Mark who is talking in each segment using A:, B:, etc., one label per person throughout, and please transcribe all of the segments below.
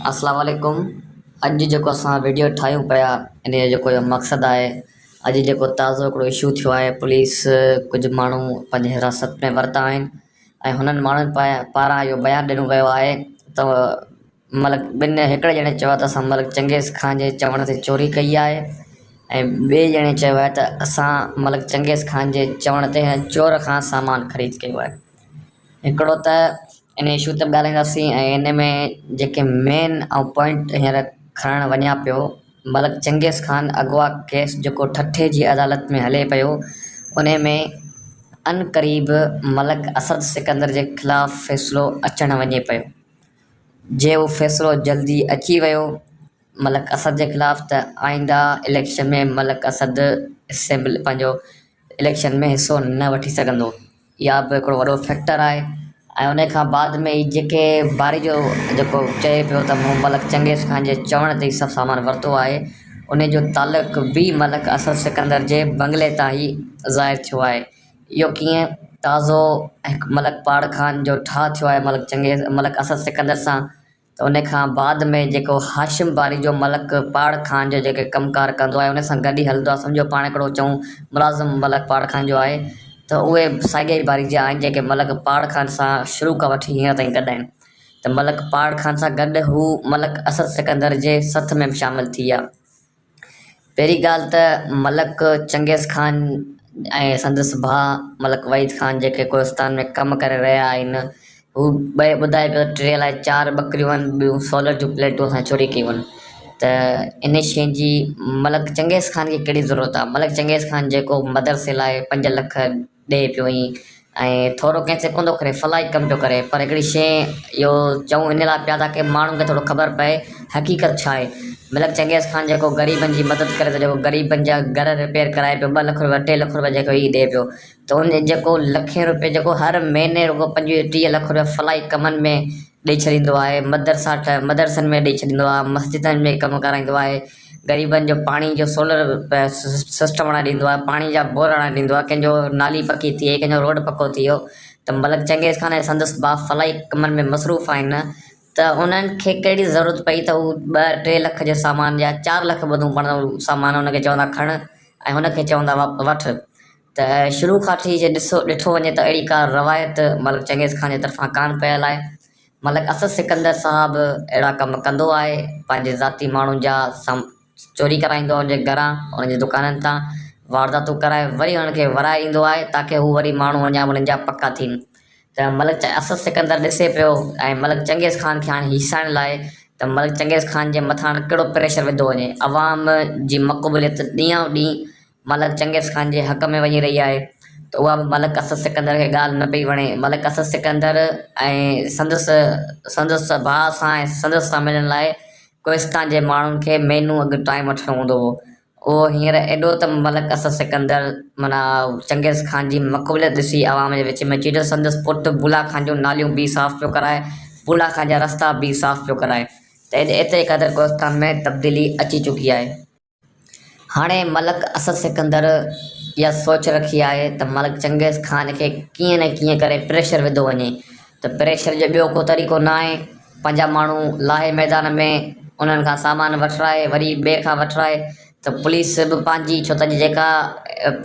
A: السلام عليڪم اڄ جيڪو اسان ويڊيو ٺاهيون پيا ان جو جيڪو مقصد آهي اڄ جيڪو تازو هڪڙو اشو ٿيو آهي پوليس ڪجهه ماڻهو پنهنجي حراست ۾ ورتا آهن ۽ هنن ماڻهن پاران اهو بيان ڏنو ويو آهي ته ملڪ ٻن هڪڙي ڄڻي چيو آهي ته اسان ملڪ چنگيز خان جي چوڻ تي چوري ڪئي آهي ۽ ٻئي ڄڻي چيو آهي ته اسان ملڪ چنگيز خان جي چوڻ تي هن چور کان سامان خريد ڪيو آهي هڪڙو ته ان اشو تي به ڳالهائينداسين ۽ ان ۾ جيڪي مين آئون پوائنٽ هينئر کڻڻ وڃان پيو ملڪ چنگيز خان اغوا ڪيس جيڪو ٺٽي جي عدالت ۾ هلي پيو ان ۾ عن قريب ملڪ اسد سڪندر جي خلاف فيصلو اچڻ وڃي پيو جي اهو فيصلو جلدي اچي ويو ملڪ اسد جي خلاف ته آئنده اليڪشن ۾ ملڪ اسد اسيمبل پنهنجو اليڪشن ۾ حصو نه وٺي سگهندو اها به هڪڙو وڏو فيڪٽر آهي ۽ ان کان بعد ۾ هي جيڪي باري جو جيڪو چئي پيو ته مون ملڪ چنگيز خان جي چوڻ تي هي سڀ سامان ورتو آهي ان جو تعلق به ملڪ اسد سڪندر جي بنگلي تان هي ظاهر ٿيو آهي اهو ڪيئن تازو هڪ ملڪ پاڙ خان جو ٺاهه ٿيو آهي ملڪ چنگيز ملڪ اسد سڪندر سان ته ان کان بعد ۾ جيڪو هاشم باري جو ملڪ پاڙ خان جو جيڪي ڪم ڪار ڪندو آهي ان سان گڏ ئي هلندو آهي سمجهو پاڻ هڪڙو چئون ملازم ملڪ پاڙ خان جو آهي ته اهي ساڳيا ئي باري جا آهن جيڪي ملڪ پاڙ خان سان شروع کان وٺي هينئر تائين گڏ آهن ته ملڪ پاڙ خان سان گڏ هو ملڪ اسد سڪندر جي سٿ ۾ به شامل ٿي ويا. پهرين ڳالهه ته ملڪ چنگيز خان ۽ سندس ڀاء ملڪ وحيد خان جيڪي ڪوهستان ۾ ڪم ڪري رهيا آهن هو ٻڌائي پيو ٽي الائي چار ٻڪريون آهن ٻيون سولر جون پليٽون اسان چوري ڪيون آهن ته ان شيء جي ملڪ چنگيز خان کي ڪهڙي ضرورت آهي ملڪ چنگيز خان جيڪو مدرسي لاء پنج لک ڏئي پيو ائين ۽ ٿورو ڪنهن سڪندو ڪري فلاحي ڪم پيو ڪري پر هڪڙي شيء اهو چئون ان لاء پيا تاڪي ماڻهن کي ٿورو خبر پئي حقيقت ڇا آهي ملڪ چنگيز خان جيڪو غريبن جي مدد ڪري ٿو جيڪو غريبن جا گهر رپيئر ڪرائي پيو ٻه لک رپيا ٽي لک رپيا جيڪو هي ڏئي پيو ته ان جيڪو لکين رپيا جيڪو هر مهيني رڳو پنجويهه ٽيهه لک رپيا فلاحي ڪمن ۾ ڏئي ڇڏيندو آهي مدرسا ٺاهي مدرسن ۾ ڏئي ڇڏيندو آهي مسجدن ۾ ڪم ڪرائيندو آهي غريبن جو پاڻي جو سولر سسٽم هڻائي ڏيندو آهي پاڻي جا بور هڻائي ڏيندو آهي ڪنهن جو نالي پڪي ٿئي ڪنهن جو روڊ پڪو ٿئي ته ملڪ چنگيز خان ۽ سندس ڀاء فلاحي ڪمن ۾ مصروف آهن ته انهن کي ڪهڙي ضرورت پئي ته هو ٻه ٽي لک جو سامان يا چار لک ٻڌون پاڻ سامان هن کي چوندا کڻ ۽ هن کي چوندا وٺ ته شروع کان وٺي جي ڏسو ڏٺو وڃي ته اهڙي ڪا روايت ملڪ چنگيز خان جي طرفان ڪانه پيل آهي ملڪ اسد سڪندر صاحب اهڙا ڪم ڪندو آهي پنهنجي ذاتي ماڻهن جا سام چوري ڪرائيندو آهي ان جي گهران انهن جي دڪانن تان وارداتون ڪرائي وري انهن کي ورائي ايندو آهي تاڪه هو وري ماڻهو اڃا انهن جا پڪا ٿين ته ملڪ اسد سڪندر ڏسي پيو ۽ ملڪ چنگيز خان کي هاڻي هيسائڻ لاء ته ملڪ چنگيز خان جي مٿان ڪهڙو پريشر وڌو وڃي عوام جي مقبوليت ڏينهان ڏينهن ملڪ چنگيز خان جي حق ۾ وڃي رهي آهي ته اها به ملڪ اسد سڪندر کي ڳالهه نه پئي وڻي. ملڪ اسد سڪندر ۽ سندس سندس ڀاء سان ۽ سندس سان ملڻ لاء ڪوهستان جي ماڻهن کي مهينو اڳ ٽائيم وٺڻو هوندو هو. اهو هينئر ايڏو ته ملڪ اسد سڪندر معنيٰ چنگيز خان جي مقبوليت ڏسي عوام جي وچ ۾ اچي ته سندس پٽ بولا خان جون ناليون به صاف پيو ڪرائي، بولا خان جا رستا به صاف پيو ڪرائي ته ايتري قدر ڪوهستان ۾ تبديلي اچي چڪي آهي. هاڻي ملڪ اسد سڪندر اها سوچ رکي آهي ته ملڪ چنگيز خان کي ڪيئن نه ڪيئن ڪري پريشر وڌو وڃي ته پريشر جو ٻيو ڪو طريقو نه آهي پنهنجا ماڻهو لاهي ميدان ۾ انهن کان سامان وٺرائي وري ٻئي کان وٺرائي ته پوليس به پنهنجي ڇو ته اڄ جيڪا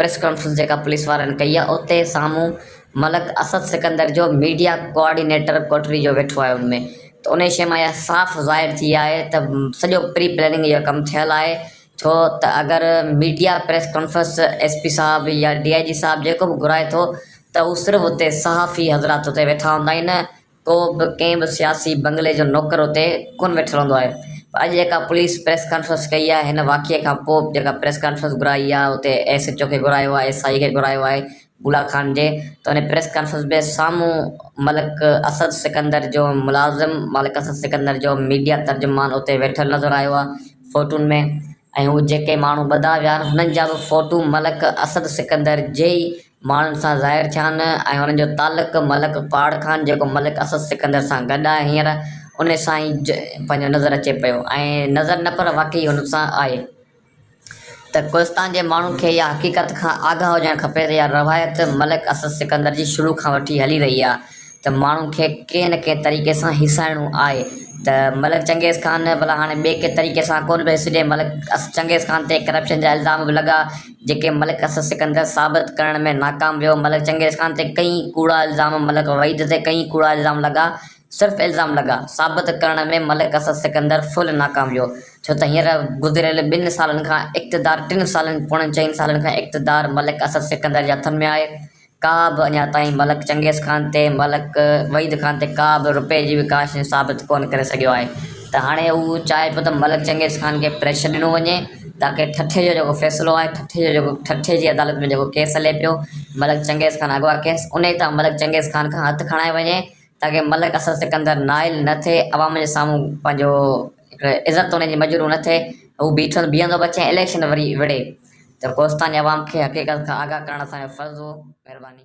A: پريس ڪانفرنس جيڪا پوليس وارن ڪئي آهي اتي سامهون ملڪ اسد سڪندر جو ميڊيا ڪوآرڊينيٽر ڪوٽڙي جو ويٺو آهي ان ۾ ته انهي شيء مان اها صاف ظاهر ٿي آهي ته سڄو پري پلاننگ اهو ڪم ٿيل آهي ڇو ته اگر media press conference S P صاحب يا ڊي آء جي صاحب جيڪو به گهرائي ٿو ته هو صرف اتي صحافي حضرات اتي ويٺا هوندا آهن ڪو به ڪنهن به سياسي بنگلي جو نوڪر اتي ڪونه ويٺل هوندو آهي پر اڄ جيڪا پوليس پريس ڪانفرنس ڪئي آهي هن واقعي کان پوء جيڪا پريس ڪانفرنس گهرائي آهي اتي ايس ايڇ او کي گهرايو آهي ايس آئي کي گهرايو آهي بولا خان جي ته ان پريس ڪانفرنس ۾ سامهون ملڪ اسد سڪندر جو ملازم ملڪ اسد سڪندر جو ميڊيا ترجمان اتي ويٺل نظر آيو آهي فوٽون ۾ ۽ هو جيڪي ماڻهو ٻڌا ويا آهن هنن جا به فوٽو ملڪ اسد سڪندر جي ئي ماڻهن سان ظاهر ٿيا نه ۽ انهن جو تعلق ملڪ پاڙ کان جيڪو ملڪ اسد سڪندر سان گڏ آهي هينئر ان سان ئي پنهنجو نظر اچي پيو ۽ نظر نه پر واقعي ان سان آهي ته ڪلستان جي ماڻهن کي اها حقيقت کان آگاهه هجڻ کپي ته اها روايت ملڪ اسد سڪندر جي شروع کان وٺي هلي رهي آهي ته ماڻهن کي ڪنهن نه ڪنهن طريقي سان هيسائڻو آهي ته ملڪ چنگيز خان ڀلا هاڻي ٻئي ڪنهن طريقي سان ڪونه پيو هيسجي ملڪ چنگيز خان تي ڪرپشن جا الزام به لڳا جيڪي ملڪ اسد سڪندر ثابت ڪرڻ ۾ ناڪام ويو، ملڪ چنگيز خان تي ڪئين ڪوڙا الزام، ملڪ وحيد تي ڪئين ڪوڙا الزام لڳا، صرف الزام لڳا، ثابت ڪرڻ ۾ ملڪ اسد سڪندر فل ناڪام ويو، ڇو ته هينئر گذريل ٻن سالن کان اقتدار ٽن سالن پوڻن چئن سالن کان اقتدار ملڪ اسد سڪندر جي هٿن ۾ آهي، ڪا به اڃا تائين ملڪ چنگيز خان تي ملڪ وحيد خان تي ڪا به رپئي جي به ڪاشني ثابت ڪونه ڪري سگهيو آهي ته هاڻي هو چاهي پيو ته ملڪ چنگيز خان کي پريشر ڏنو وڃي تاڪه ٺٽي جو جيڪو فيصلو آهي ٺٽي جو جيڪو ٺٽي جي عدالت ۾ جيڪو ڪيس هلي پيو ملڪ چنگيز خان اغوا ڪيس انهي تان ملڪ چنگيز خان کان هٿ کڻائي وڃي تاڪه ملڪ اصل سڪندر نائل نه ٿئي عوام جي سامهون پنهنجو عزت توني جي مجروح نه ٿئي هو بيٺل بيهندو به اچي ۽ اليڪشن وري وڙهي ته ڪوستاني عوام کي حقيقت کان آگاهه ڪرڻ اسان جو فرض هو مهرباني.